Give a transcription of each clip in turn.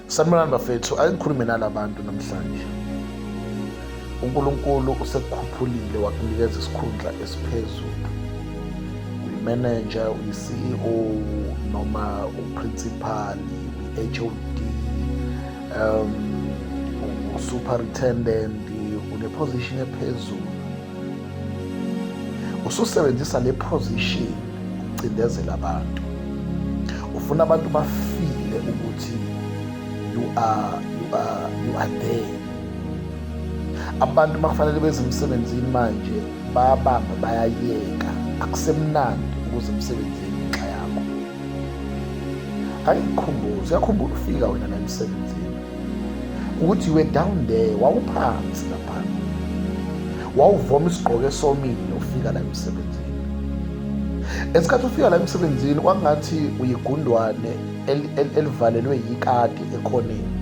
Sanibonani bafethu, ake ngikhulume nalabantu namhlanje. UNkulunkulu usekukhuphulile wakunikeza isikhundla esiphezulu. Uyi-manager, uyi-CEO noma uprincipal, uyi-HOD, um, usuperintendent, une-position ephezulu. ususebenzisa le position ukucindezela abantu ufuna abantu bafile ukuthi you are, you are, you are there abantu bakufanele beze emsebenzini manje bayabamba bayayeka akusemnandi ukuze emsebenzini ngenxa yakho angikhumbuzi uyakhumbula ufika wena la emsebenzini ukuthi you were down there wawuphansi laphansi wawuvoma isigqoko esomile ufika la emsebenzini esikhathi ufika la emsebenzini kwakungathi uyigundwane elivalelwe yikati ekhoneni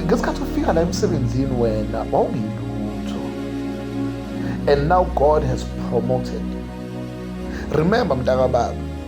ngesikhathi ufika la emsebenzini wena wawungilutho and now god has promoted remember mntakababa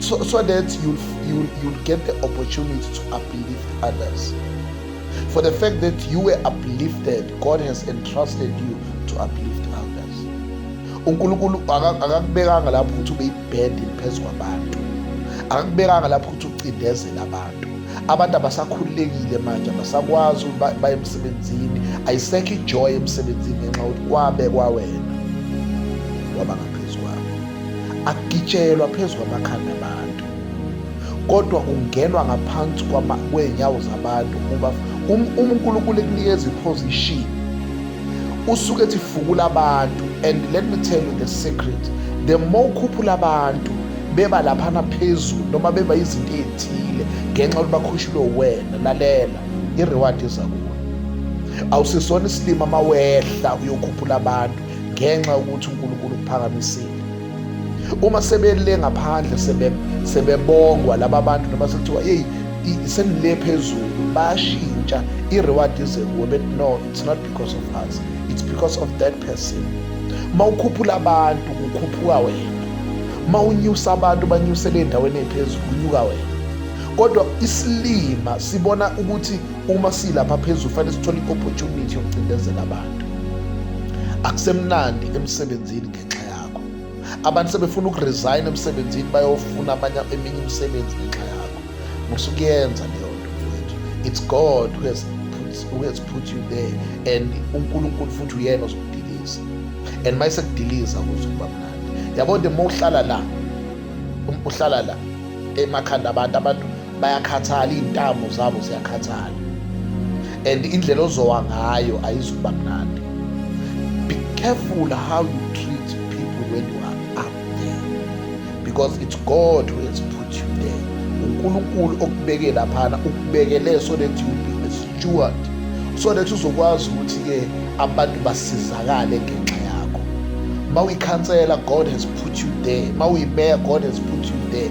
so, so that you'll, you'll, you'll get the opportunity to uplift others. For the fact that you were uplifted, God has entrusted you to uplift others. uNkulunkulu akakubekanga lapho ukuthi ube ibhedi phezu kwabantu akakubekanga lapho ukuthi ucindezele abantu abantu abasakhululekile manje abasakwazi ukuba baye emsebenzini ayisekho ijoy emsebenzini ngenxa yokuthi kwabekwa wena wabanga akugitshelwa phezu kwamakhanda abantu kodwa ungenwa ngaphansi kwey'nyawo zabantu ukuba um, uma unkulunkulu ekunikeza iposition usuke ethi fukula abantu and let me tell you the secret the more ukhuphula abantu beba laphana phezulu noma beba izinto ey'thile ngenxa yokuthi bakhushulwe wena lalela i-reward iza kuwe awusisona isilima uma wehla uyokhuphula abantu ngenxa yokuthi uNkulunkulu ukuphakamisile uma sebele ngaphandle sebebongwa laba bantu noma sekuthiwa yeyi senile phezulu bayashintsha i-reward ize kuwe but no it's not because of us it's because of that person uma ukhuphula abantu kukhuphuka wena uma unyusa abantu banyusele endaweni ephezulu kunyuka wena kodwa isilima sibona ukuthi uma silapha phezulu fanele sithole i-opportunity yokucindezela abantu akusemnandi emsebenzini ngenxa yakho abantu sebefuna ukuresign emsebenzini bayofuna abanye eminye imisebenzi ngenxa yakho musukuyenza leyo nto mfowethu it's god who has put, who has put you there and unkulunkulu futhi uyena ozokudiliza and uma esekudiliza kuzokuba mnandi yabo nto uma uhlala la um, uhlala la emakhanda abantu abantu bayakhathala iy'ntamo zabo ziyakhathala and indlela ozowa ngayo ayizukuba mnandi be careful how you treat people when you are up there because it's god who has put you there unkulunkulu okubeke laphana ukubekele so that you be a steward so that uzokwazi ukuthi-ke abantu basizakale ngenxa yakho ma uyikhansela god has put you there ma uyimeya god has put you there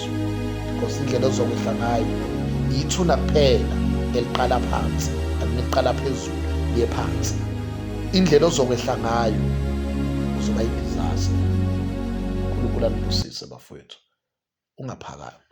because indlela ozokwehla ngayo yithuna kuphela eliqala phansi aliniqala phezulu liye phansi indlela ozokwehla ngayo uzoba yidizasa unkulunkulu anibusise bafowethu ungaphakami